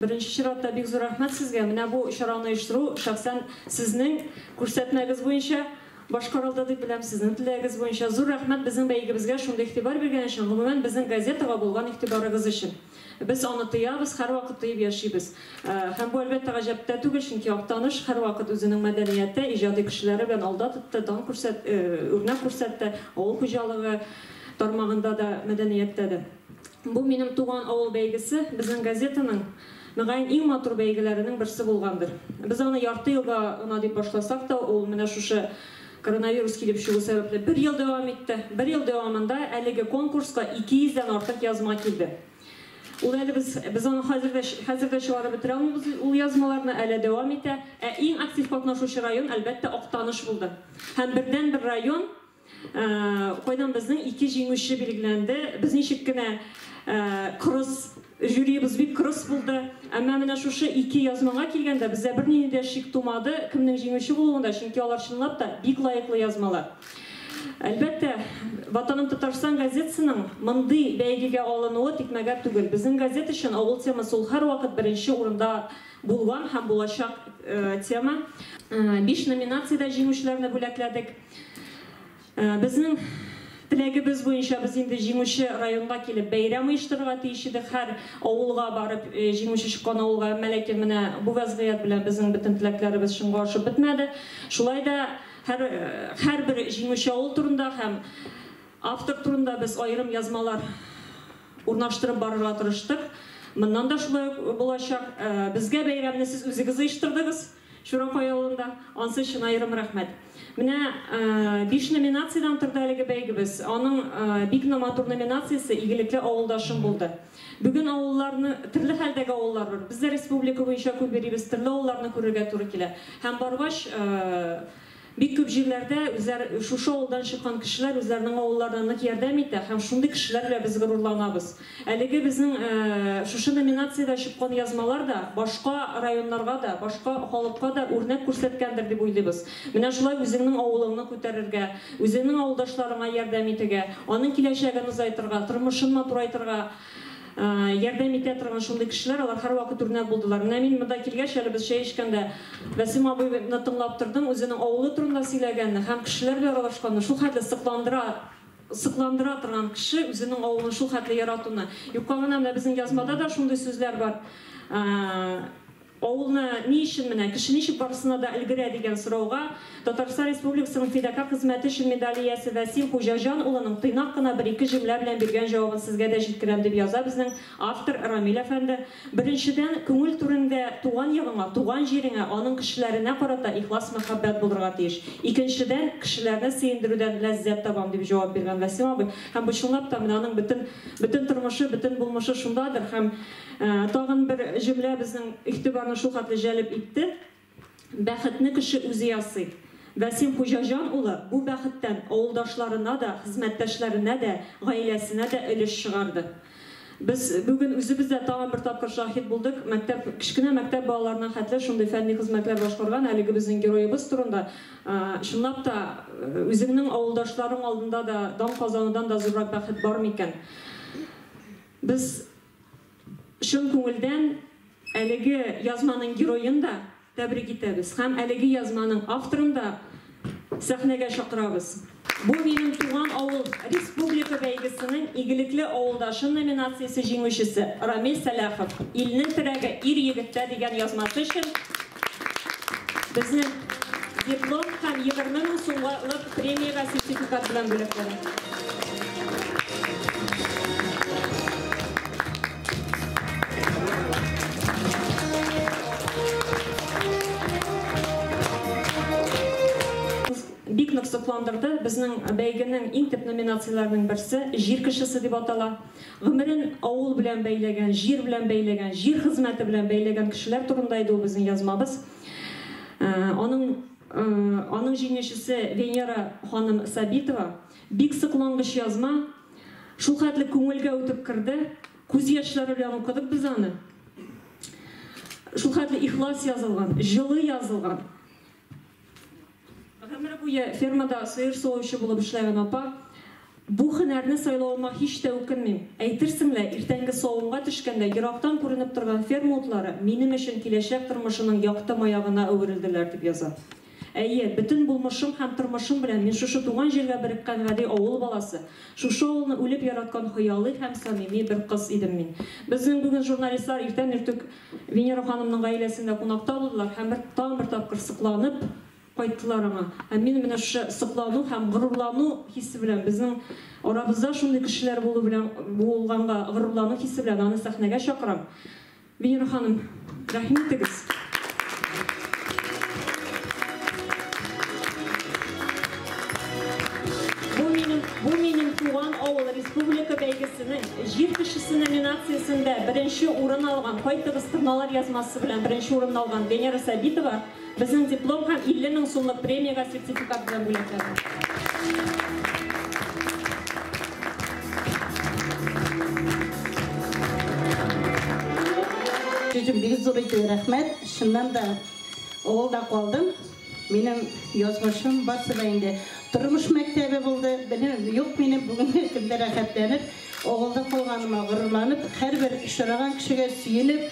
Беренче чиратта бик зур рәхмәт сезгә, менә бу чараны оештыру шәхсән сезнең күрсәтмәгез буенча башкарылды дип беләм, сезнең теләгегез буенча. Зур рәхмәт безнең бәйгебезгә шундый игътибар биргән өчен, гомумән безнең газетага булган игътибарыгыз өчен. Без аны тоябыз, һәрвакыт тоеп яшибез. Һәм бу әлбәттә гаҗәп тә түгел, чөнки Актаныш һәрвакыт үзенең мәдәнияте, иҗади кешеләре белән алда тотты, дан күрсәт, үрнәк күрсәтте, авыл хуҗалыгы тармагында да, мәдәнияттә дә. Бу Минем туган авыл бәйгесе безнең газетаның, мөгаен, иң матур бәйгеләренең берсе булгандыр. Без аны ярты елга гына дип башласак та, ул менә шушы коронавирус килеп чыгу сәбәпле бер ел дәвам итте. Бер ел дәвамында әлеге конкурска 200 дән артык язма килде. Ул әле без, без аны хәзер дә, хәзер дә чыгарып бетерә алмыйбыз ул язмаларны, әле дәвам итә. Ә иң актив катнашучы район, әлбәттә, Актаныш булды. Һәм бердәнбер район Кайдан безнең ике җиңүче билгеләнде. Без ничек кенә кырыс, жюриебыз бик кырыс булды. Әмма менә шушы ике язмага килгәндә, бездә бернинди дә шик тумады кемнең җиңүче булуында, чөнки алар чынлап та бик лаеклы язмалар. Әлбәттә, Ватаным Татарстан газетасының мондый бәйгегә алынуы тикмәгә түгел. Безнең газета өчен авыл темасы ул һәрвакыт беренче урында булган һәм булачак тема. Биш номинациядә җиңүчеләрне бүләкләдек. Безнең теләгебез буенча без инде җиңүче районга килеп бәйрәм оештырырга тиеш идек, һәр авылга барып, җиңүче чыккан авылга, әмма ләкин менә бу вәзгыять белән безнең бөтен теләкләребез чынга ашып бетмәде. Шулай да һәр һәрбер җиңүче авыл турында һәм автор турында без аерым язмалар урнаштырып барырга тырыштык. Моннан да шулай ук булачак. Безгә бәйрәмне сез үзегез оештырдыгыз. Чуракай авылында ансы өчен аерым рәхмәт. Менә биш номинациядән торды әлеге бәйгебез. Аның бик номатур номинациясе Игелекле авылдашым булды. Бүген авылларны, төрле хәлдәге авыллар бар. Без дә республика буенча күп йөрибез, төрле авылларны күрергә туры килә. Һәм баргач, Бик күп җирләрдә үзләр, шушы авылдан чыккан кешеләр үзләренең авылларына нык ярдәм итә һәм шундый кешеләр белән без горурланабыз. Әлеге безнең шушы номинациядә чыккан язмалар да башка районнарга да, башка халыкка да үрнәк күрсәткәндер дип уйлыйбыз. Менә шулай үзеңнең авылыңны күтәрергә, үзеңнең авылдашларыңа ярдәм итегә, аның киләчәген озайтырга, тормышын матурайтырга, ярдәм итә торган шундый кешеләр, алар һәрвакыт үрнәк булдылар. Менә мин монда килгәч, әле без чәй эчкәндә Вәсим абыйны тыңлап тордым, үзенең авылы турында сөйләгәнне һәм кешеләр белән аралашканны, шул хәтле сокландыра, сокландыра торган кеше үзенең авылын шул хәтле яратуны. Юкка гына менә безнең язмада да шундый сүзләр бар. Авылны ни өчен менә, кеше ничек барысына да өлгерә, дигән сорауга Татарстан Республикасының Фидакарь хезмәте өчен медале иясе Вәсил Хуҗаҗан улының тыйнак кына бер-ике җөмлә белән биргән җавабын сезгә дә җиткерәм, дип яза безнең автор Рамил әфәнде, Беренчедән, күңел түреңдә туган ягыңа, туган җиреңә, аның кешеләренә карата ихлас мәхәббәт булырга тиеш. Икенчедән, кешеләрне сөендерүдән ләззәт табам, дип җавап биргән Вәсим абый. Һәм бу чынлап та менә аның бөтен бөтен тормышы, бөтен булмышы шундадыр һәм. Тагын бер җөмлә безнең игътибарны шулхәтле җәлеп итте, Бәхетне кеше үзе ясый. Вәсим Хуҗаҗан улы бу бәхеттән авылдашларына да, хезмәттәшләренә дә, гаиләсенә дә өлеш чыгарды. Без бүген үзебез дә тагын бер тапкыр шаһит булдык, мәктәп, кечкенә мәктәп балаларына хәтле шундый фәнни хезмәтләр башкарган әлеге безнең героебыз турында, чынлап та, үзеңнең авылдашларың алдында да дан казанудан да зуррак бәхет бар микән? Без Чын күңелдән әлеге язманың героен да тәбрик итәбез һәм әлеге язманың авторын да сәхнәгә чакырабыз. Бу минем туган авыл республика бәйгесенең Игелекле авылдашым номинациясе җиңүчесе Рамил Сәлахов Илнең терәге ир-егеттә дигән язмасы өчен Безнең диплом һәм 20 мең сумлык премиягә сертификат белән бүләкләнә. Бик нык сокландырды. Безнең бәйгенең иң төп номинацияләренең берсе Җир кешесе дип атала. Гомерен авыл белән бәйләгән, җир белән бәйләгән, җир хезмәте белән бәйләгән кешеләр турында иде ул безнең язмабыз. Аның аның җиңүчесе Венера ханым Сабитова. Бик соклангыч язма. Шул хәтле күңелгә үтеп керде. Күз яшьләре белән укыдык без аны. Шул хәтле ихлас язылган, җылы язылган. Гомер буе фермада сыер савучы булып эшләгән апа, Бу һөнәрне сайлавыма һич тә үкенмим. Әйтерсең лә, иртәнге савымга төшкәндә ерактан күренеп торган ферма утлары минем өчен киләчәк тормышымның якты маягына әверелделәр, дип яза. Әйе, бөтен булмышым һәм тормышым белән мин шушы туган җиргә береккән гади авыл баласы, шушы авылны үлеп яраткан хыялый һәм самими бер кыз идем мин. Безнең бүген журналистлар иртән-иртүк Венера ханымның гаиләсендә кунакта булдылар һәм бер, тагын бер тапкыр сокланып кайттылар аңа. Һәм мин менә шушы соклану һәм горурлану хисе белән, безнең арабызда шундый кешеләр булу белән, булганга горурлану хисе белән аны сәхнәгә чакырам. Венера ханым, рәхим итегез! Бу минем, бу минем туган авыл республика бәйгесенең Җир кешесе номинациясендә беренче урын алган, кайтыгыз торналар язмасы белән беренче урынны алган Венера Сабитова безнең диплом һәм 50 мең сумлык премиягә сертификат белән бүләкләде. Сүзем бик зур итүгә рәхмәт. Чыннан да, авылда калдым. Минем язмышым барсы да инде тормыш мәктәбе булды. Белем юк минем бүгенге көндә рәхәтләнеп, авылда калганыма горурланып, һәрбер очраган кешегә сөенеп,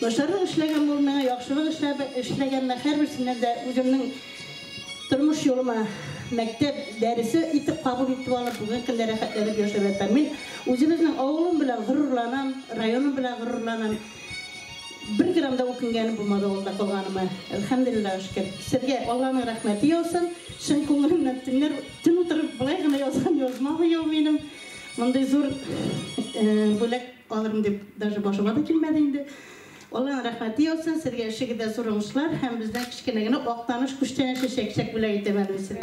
начарлык эшләгән булып миңа яхшылык эшләп эшләгәннәр һәрберсеннән дә үземнең тормыш юлыма мәктәп дәресе итеп кабул итеп алып, бүгенге көндә рәхәтләнеп яшәп ятам. Мин үзебезнең авылым белән горурланам, районым белән горурланам. Бер грамм да үкенгәнем булмады авылда калганыма. Әлхәмдүлилләһ шөкер. Сезгә Алланың рәхмәте яусын. Чын күңелемнән төннәр төн утырып болай гына язган язма бу ел минем. Мондый зур бүләк алырмын дип даже башыма да килмәде инде. Алланың рәхмәте яусын. Сезгә эшегездә зур уңышлар һәм бездән кечкенә генә Актаныш күчтәнәче чәкчәк бүләк итәм әле мин сезгә.